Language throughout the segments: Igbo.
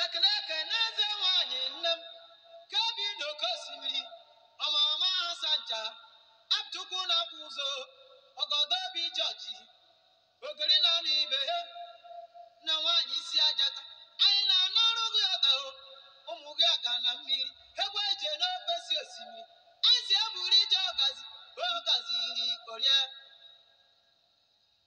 ekene eke n'eze nwanyị nne m ka bi n'oke osimiri ọmama ha sancha apụchukwu na-akwụ ụzọ ọgọdọ obi jọji ogiri na anụ ibe ha na nwaanyị isi ajata anyị na-anọrụ gị ọda o ụmụ gị aga na mmiri egwu eje n'ofesi osimiri anyị si eburu ije ọgazi ogazi iri orie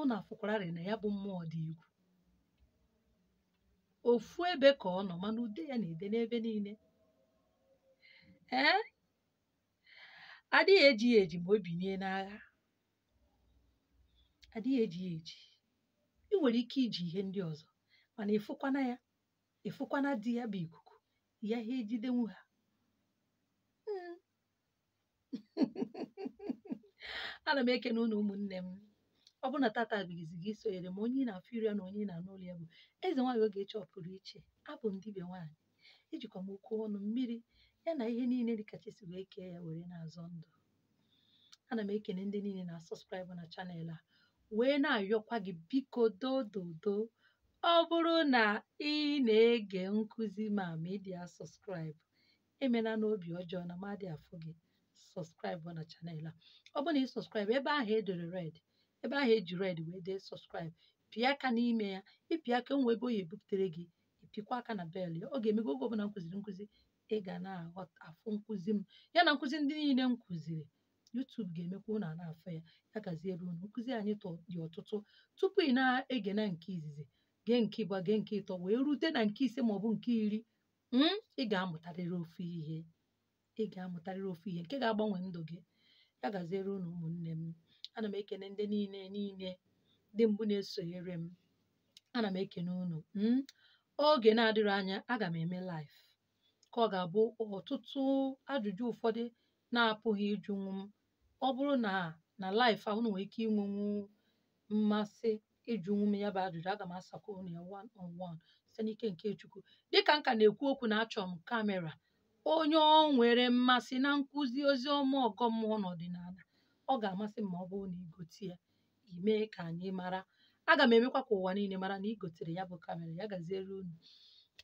unu afụkwararị na ya bụ mmụọ dị egwu ofu ebe ka ọ nọ mana ude ya na-ede n'ebe niile ee adịghị eji ya eji ma o binie n'agha adịghị eji ya eji ị nwere ike iji ihe ndị ọzọ mana ịfụkwana ya ịfụkwana di ya bụ ikuku ị yaghị ejidenwu ha ana m ekene unu ụmụnne m ọ bụrụ na tata bụ izizi gị isonyere m onye ị na-afụ iru ya na onye ị na-anụ olu ya bụ eze nwaanyị Ogechi ọpụrụ iche abụ m dibịa nwaanyị ejikwa m okwu ọnụ mmiri ya na ihe niile dịka chukwu si wee kee ya were na-azọ ndụ ana m ekene ndị niile na-asubscribe na channel a wee na-ayọkwa gị biko dododo ọ bụrụ na ị na-ege nkụzi m a ma ị dị asubscribe emenanụ obi ọjọọ na mmadụ afụ gị subscribe na channel a ọ bụrụ na ị subscribe ebe ahụ edere red ebe ahụ eji red wee dee subscribe pịa aka n'ime ya ịpịa aka nwe ebe ọ ya-ebuputere gị ịpịkwa aka na bell ya ọ ga-eme gị oge ọbụla m kụziri nkụzi ị ga na-aghọta afụ nkụzi m ya na nkụzi ndị niile m kụziri YouTube ga-emekwa unu ana-afụ ya ya gaziere unu nkụzi anyị dị ọtụtụ tupu ị na-ege na nke izizi gee nke ịbụa gee nke ịtọ wee rute na nke ise maọbụ nke iri mm, ị ga-amụtarịrị ofu ihe ị ga-amụtarịrị ofu ihe nke ga-agbanwe ndụ gị ya gaziere unu ụmụnne m ana m ekene ndị niile niile ndị mbụ na-esonyere m ana m ekene unu mm, oge na-adịrọ anya aga m eme live ka ọ ga-abụ ọtụtụ ajụjụ ụfọdụ na-apụghị ịjụnwu m ọ bụrụ na na live ahụ unu nwere ike inwenwu mmasị ịjụnwu m ya bụ ajụjụ aga m asakwa unu ya one on one site n'ike nke chukwu dịka m ka na-ekwu okwu na achọ m kamera onye o nwere mmasị na nkụzi ozi ọma ọgọ mmụọ na ọdịnala ọ ga-amasị m ma ọ bụrụ na igote ya i mee ka anyị mara aga m emekwa ka ụwa niile mara na igotere ya bụ kamera ya gaziere unu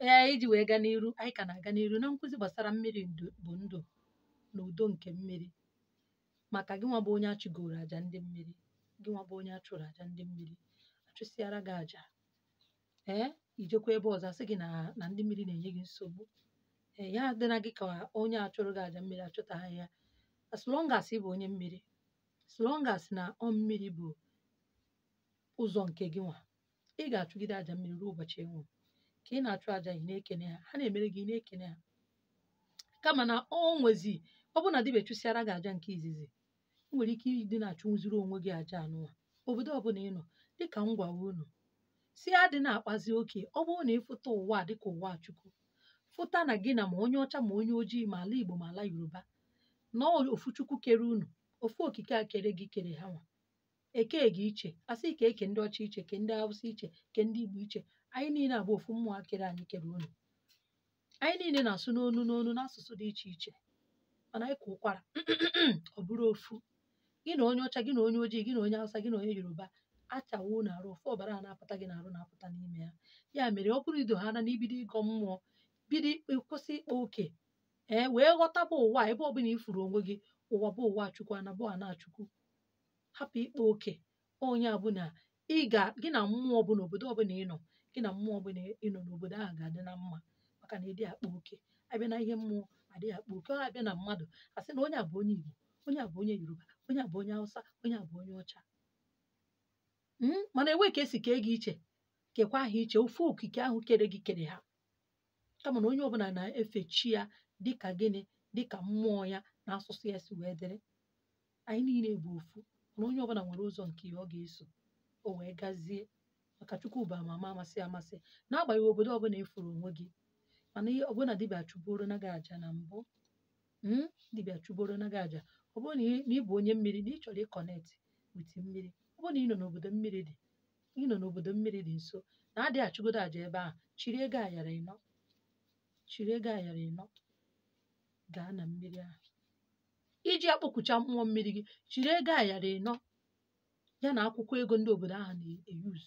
ee iji wee gaa n'iru anyị ka na-aga n'iru na nkụzi gbasara mmiri bụ ndụ na udo nke mmiri maka gị nwa bụ onye achụgoro aja ndị mmiri gị nwa bụ onye achụrụ aja ndị mmiri achụsịara gị aja ee ijekwa ebe ọzọ asị gị na ndị mmiri na-enye gị nsogbu ee ya adịna gị ka onye achụrụ gị aja mmiri achụtaghị ya as long as ị bụ onye mmiri as long as na ọ mmiri bụ ụzọ nke gị nwa ị ga-achụgide aja mmiri ruo ụbọchị ị nwụrụ ka ị na-achụ aja ị na-ekene ha ha na-emere gị ị na-ekene ha kama na ọ nwezi ọ bụrụ na dibịa chụsịara gị aja nke izizi ị nwere ike ịdị na-achụnwuziri onwe gị aja anụwa obodo ọbụla ị nọ dịka m gwara unu sị adị na-akpazi oke ọ bụrụ na ịfụta ụwa dịka ụwa chukwu fụta na gị na ma onye ọcha ma onye ojii ma ala igbo ma ala yoruba na ofu chukwu kere unu ofu okike a kere gị kere ha nwa eke gị iche asị ka eke ndị ọcha iche ke ndị awụsa iche ke ndị igbo iche anyị niile bụ ofu mmụọ kere anyị kere unu anyị niile na-asụ n'onu n'onu n'asụsụ dị iche iche mana anyị kwaa ụkwara ọ bụrụ ofu gị na onye ọcha gị na onye ojii gị na onye awụsa gị na onye yoruba achawaa unu arụ ofu ọbara a na-apụta gị n'arụ na-apụta n'ime ya ya mere ọ bụrụ ido ha na n'ibido ịgọ mmụọ bido ikpe kwụsị ịkpa oke ee wee ghọtaba ụwa ebe ọbụla ifuru onwe gị ụwa bụ ụwa chukwu ana bụ ana chukwu hapụ ịkpa oke onye ọbụla ị ga gị na mmụọ ọbụla obodo ọbụla ị nọ gị na mmụọ ọbụla nọ n'obodo ahụ ga-adị na mma maka na ịdị akpa oke abịa na ihe mmụọ adịghị akpa oke ọ abịa na mmadụ asị na onye a bụ onye Igbo onye a bụ onye Yoruba onye a bụ onye Hausa onye a bụ onye ọcha Mm, mana enwe ka esi kee gị iche kekwa ha iche ofu okike ahụ kere gị kere ha kama na onye ọbụla na-efe chi ya dịka gịnị dịka mmụọ ya na asụsụ ya si wee dịrị anyị niile bụ ofu mana onye ọbụla nwere ụzọ nke ya ọ ga-eso o wee gazie maka chukwu bụ ama ama amasị amasị n'agbanyeghị obodo ọbụla ifuru onwe gị mana ihe ọbụla dibịa chụboro na gị aja na mbụ mm, dibịa chụboro na gị aja ọ bụrụ na ị- na ị bụ onye mmiri na ị chọrọ ịconnect with mmiri ọ bụrụ na ị nọ n'obodo mmiri dị ị nọ n'obodo mmiri dị nso na adị achụgodo aja ebe ahụ chịrị ego ayara ịnọ chịrị ego ayara ịnọ gaa na mmiri ahụ iji akpọkucha mmụọ mmiri gị chịrị ego ayara ịnọ ya na akwụkwọ ego ndị obodo ahụ na-eyuz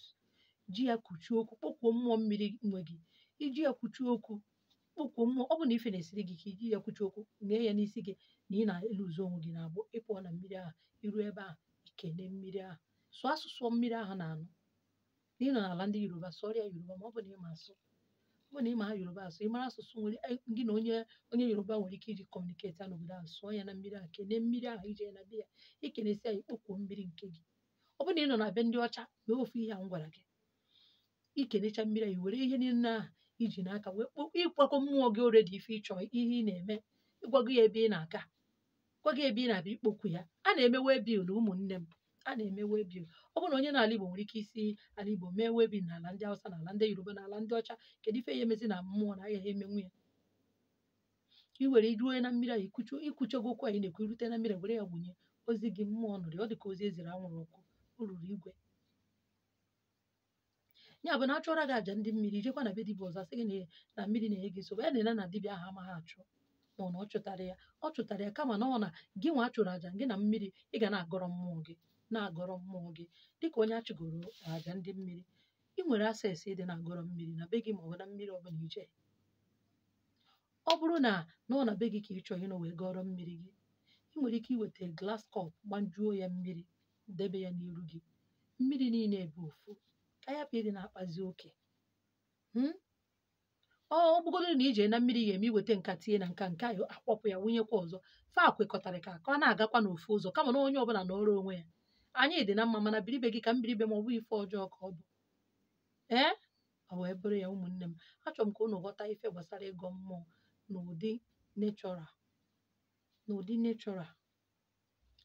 ji ya kwuchie okwu kpọkuo mmụọ mmiri nwe gị iji ya kwuchie okwu kpọkuo mmụọ ọ bụ na ife na-esiri gị ike iji ya kwuchie okwu ṅee ya n'isi gị na ị na-eluzu onwe gị n'agbụ ịpụọ na mmiri ahụ iru ebe ahụ ikene mmiri ahụ sụọ asụsụ mmiri ahụ na-anụ na ị nọ n'ala ndị yoruba sụọrọ ya yoruba ma ọ bụ na ịma asụ ọ bụ na ịmaha yoruba asụ ịmara asụsụ nwere eh, gị na onye onye yoruba nwere ike iji communicate ya n'obodo ahụ sụọ ya na mmiri ahụ kene mmiri ahụ ije na be ya ikenesi ya ịkpọkuo mmiri nke gị ọ bụ na ị nọ na be ndị ọcha mee ofu ihe a m gwara gị ikenecha mmiri ahụ i were ihe niile ahụ iji n'aka wee kpọkwa ịgwago mmụọ gị already ife ịchọ ihe ị na-eme ịgwago ya ebe ị na-aga gwa ya ebe ị na-abịa ịkpọku ya a na-eme waybill na ụmụnne m a na-eme waybill ọ bụrụ na onye n'ala Igbo nwere ike isi ala Igbo mee waybill n'ala ndị Hausa n'ala ndị Yoruba n'ala ndị ọcha kedu ife ya emezi na mmụọ na agaghị emenwu ya i were ruo na mmiri ahụ ikwucha ikwuchago okwu anyị na-ekwu irute na mmiri were ya gbunye ozi gị mmụọ nụrụ ya ọ dị ka ozi eziri anwụrụ ọkụ o ruru igwe ya bụ na a chụọra gị aja ndị mmiri i jekwa na be dibịa ọzọ a sị gị na na mmiri na-enye gị nsogbu ya na na dibịa ahụ amaghị achụ ma ọ na ọ chụtara ya ọ chụtara ya kama na ọ na gị nwa a chụrụ aja gị na mmiri ị ga na-agọrọ mmụọ gị na-agọrọ mmụọ gị dịka onye achụgoro aja ndị mmiri ị nwere access ịdị na-agọrọ mmiri na be gị ma ọ bụ na mmiri ọ bụla i je ọ bụrụ na na ọ na be gị ka ị chọrọ ịnọ wee gọrọ mmiri gị ị nwere ike iweta glass cup gbanjuo ya mmiri debe ya n'iru gị mmiri niile bụ ofu ka a yapụ ịdị na-akpazi oke Hmm? ọ ọ bụgodị na i je na mmiri ga-eme i weta nke a tinye na nke a nke ahụ akpọpụ ya wụnyekwa ọzọ fa kwekọtara ka ka ọ na-agakwa n'ofu ụzọ kama na onye ọbụla nọrọ onwe ya anyị dị na mma mana biri be gị ka m biri be m ọ bụ ife ọjọọ ka ọ bụ ee ọ wee bụrụ ya ụmụnne m achọrọ m ka unu ghọta ife gbasara ịgọ mmụọ n'ụdị natural n'ụdị natural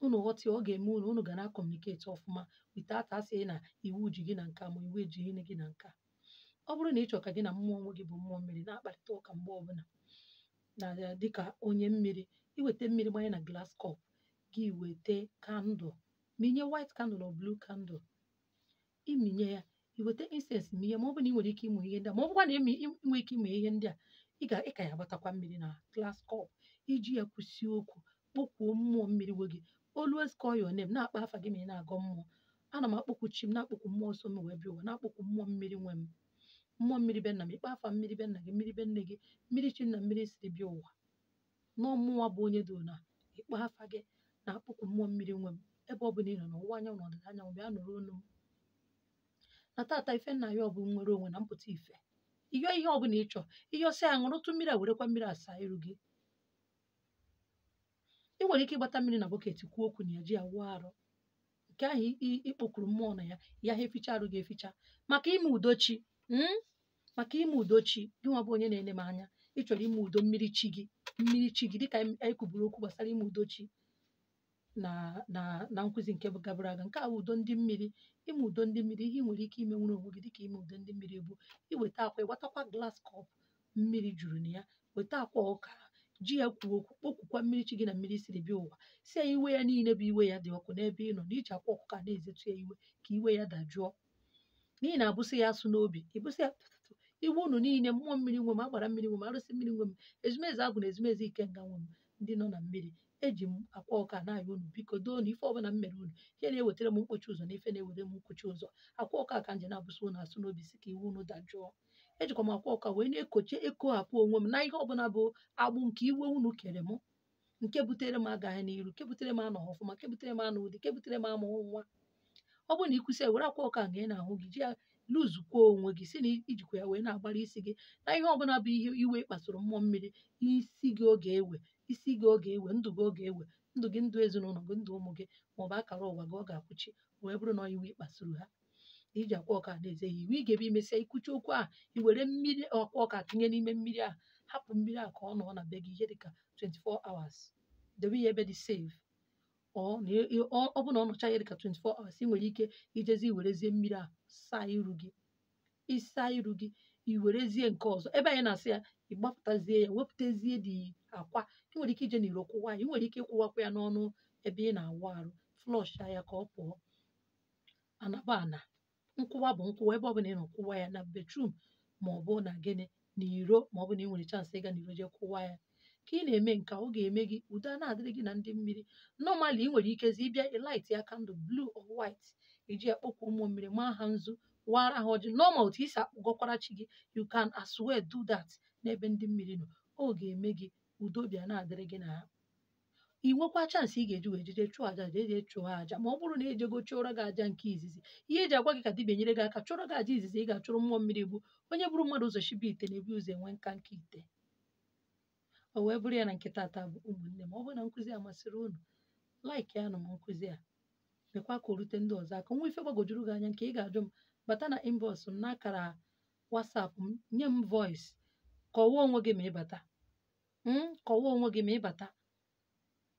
unu ghọta ya ọ ga-eme unu unu ga na-acommunicate ọfụma without a sị na iwu ji gị na nke a ma iwu ejighị gị na nke a ọ bụrụ na ị chọrọ ka gị na mmụọ nwe gị bụ mmụọ mmiri na-akparịta ụka mgbe ọbụla na dịka onye mmiri i weta mmiri gbanye na glass cup gị weta candle mịnye white candle or blue candle ị mịnye ya i weta incense mịnye ma ọ bụ na ị nwere ike ịmụ ihe ndị a ma ọ bụkwa na ị mị- ị nwere ike ịmụ ihe ndị a ị ga ị ka ya agbatakwa mmiri na glass cup i ji ya kwusi okwu kpọkwuo mmụọ mmiri nwe gị always call your name na-akpa afa gị ma ị na-agọ mmụọ ana m akpọkwu chi m na-akpọkwu mmụọ so m wee bịa ụwa na-akpọkwu mmụọ mmiri nwe m mmụọ mmiri be nna m ị kpa afa mmiri be nna gị mmiri be nne gị mmiri chi m na mmiri siri bịa ụwa na ọ mụnwa bụ onye dị na ị kpọọ afa gị na-akpọkwu mmụọ mmiri nwe m ebe ọ bụla ị nọ n'ọwụwa anyanwụ na ọdịda anyanwụ bịa nụrụ olu m na taata ife m na-ayọ bụ nnwere onwe na mpụta ife ị yọọ ihe ọ bụla ị chọọ ị yọsịa ṅụrụtụ mmiri a werekwa mmiri a saa iru gị ị nwere ike ịgbata mmiri na bucket kwuo okwu na ya ji ya wụọ arụ nke ahụ i- i- ị kpọkuru mmụọ na ya ya ha eficha arụ gị eficha maka ime udo chi mm? maka ime udo chi gị nwa bụ onye na-ele m anya ị chọrọ ime udo mmiri chi gị mmiri chi gị dịka anyị kwuburu okwu gbasara ime udo chi na na na nkụzi nke gabara aga nke a bụ udo ndị mmiri ime udo ndị mmiri ihe ị nwere ike ime nwere onwe gị dịka ime udo ndị mmiri bụ iweta akwa ịgbatakwa glass cup mmiri juru na ya weta akwa ọka ji ya kwuo okwu kpọkwukwa mmiri chi gị na mmiri siri bịa ụwa sị ya iwe ya niile bụ iwe ya dị ọkụ n'ebe ị nọ na i ji akwa ọkụkọ a na-ezetu ya iwe ka iwe ya dajụọ n'ihi na abụsị ya asụ n'obi ị bụsị ya tụtụtụ iwe unu niile mmụọ mmiri nwe m agbara mmiri nwe m arụsị mmiri nwe m ezumezu agwụ na ezumezu ikenga nwe m ndị nọ na mmiri eji m akwa ọka na-ayọ unu biko doo na ife ọbụla m mere unu ihe na-ewetara m mkpochi ụzọ na ife na-ewere m nkwụchi ụzọ akwa ọka ka m ji na-abụsị unu asụ n'obi sị ka iwe unu dajụọ ejikwa m akwa ọka wee na-eko ekohapụ onwe m na ihe ọbụla bụ agbụ nke iwe unu kere m nke butere m agaghị n'iru nke butere m anọghị ọfụma nke butere m anụghị di nke butere m amụghị nwa ọ bụrụ na i kwusị ya were akwa ọka nke ị na-ahụ gị ji ya lụzukwuo onwe gị si na ijikwa ya wee na-agbara isi gị na ihe ọbụla bụ ihe iwe kpasuru mmụọ mmiri isi gị ọ ga-ewe isi gị ọ ga-ewe ndụ gị ọ ga-ewe ndụ gị ndụ ezinụlọ gị ndụ ụmụ gị maọbụ akara ụwa gị ọ ga-akwụchi wee bụrụ na iwe kpasuru ha na iji akwa ọka na-eze ya iwe ị ga-ebe imesịa ikwucha okwu ahụ i were mmiri akwa ọka tụnye n'ime mmiri ahụ hapụ mmiri ahụ ka ọ nọ na be gị ihe dịka 24 hours debe ya ebe dị safe ọ na ị- ị- ọ ọ bụ na ọ nọcha ya dịka 24 hours ị nwere ike ijezi werezie mmiri ahụ saa iru gị ịsa iru gị i werezie nke ọzọ ebe anyị na-asị ya ị gbapụtazie ya wepụtazie the akwa ị nwere ike ije n'iro kụwa ya ị nwere ike ịkụwakwa ya n'ọnụ ebe ị na-awụ arụ flush ya ka ọ pụọ ana bụ ana nkụwa bụ nkụwa ebe ọbụla ị nọ kụwa ya na bedroom ma ọ bụ na gịnị n'iro ma ọ bụ na ị nwere chance ịga n'iro jee kụwa ya ka ị na-eme nke a, ọ ga-eme gị udo a na-adịrị gị na ndị mmiri normally ị nwere ikezi ịbịa ịlight ya candle blue or white iji akpọkwa ụmụ mmiri maa ha nzu wara ha ọjị normal otu i si akpọgọkwara chi gị you can as well do that n'ebe ndị mmiri nọ ọ ga-eme gị udo bịa na-adịrị gị na ha ị nwekwa chance ị ga-eji wee jeje chụọ aja jeje chụọ aja ma ọ bụrụ na ejego chụọrọ gị aja nke izizi ihe eji agwa gị ka dibịa nyere gị aka chụọrọ gị aja izizi ị ga-achụrụ mmụọ mmiri bụ onye buru mmadụ ụzọ shibe ite na-ebu ụzọ enwe nkanka ite o wee bụrụ ya na nke tata bụ ụmụnne m ọ bụrụ na nkụzi a masịrị unu like ya nụ m nkụzi a mekwa ka o rute ndị ọzọ aka nwee ife gbagojuru gị anya nke ị ga-ajụ m bata na inbox m n'akara WhatsApp m nye m voice kọwaa onwe gị ma ị bata mm, kọwaa onwe gị ma ịbata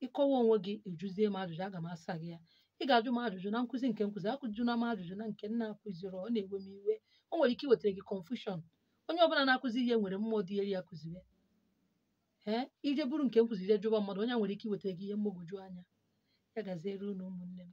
ịkọwa onwe gị ị jụzie m ajụjụ aga m asa gị ya ị ga-ajụ m ajụjụ na nkụzi nke m kụzi ajụkwana m ajụjụ na nke m na-akụzirọ na-ewe m iwe o nwere ike iwetara gị confusion onye ọbụla na-akụzi ihe nwere mmụọ dị elu ya kụziwe ee ije buru nke m kụzi ije jụba mmadụ onye a nwere ike iwetara gị ihe mgbagwoju anya ya gaziere unu ụmụnne m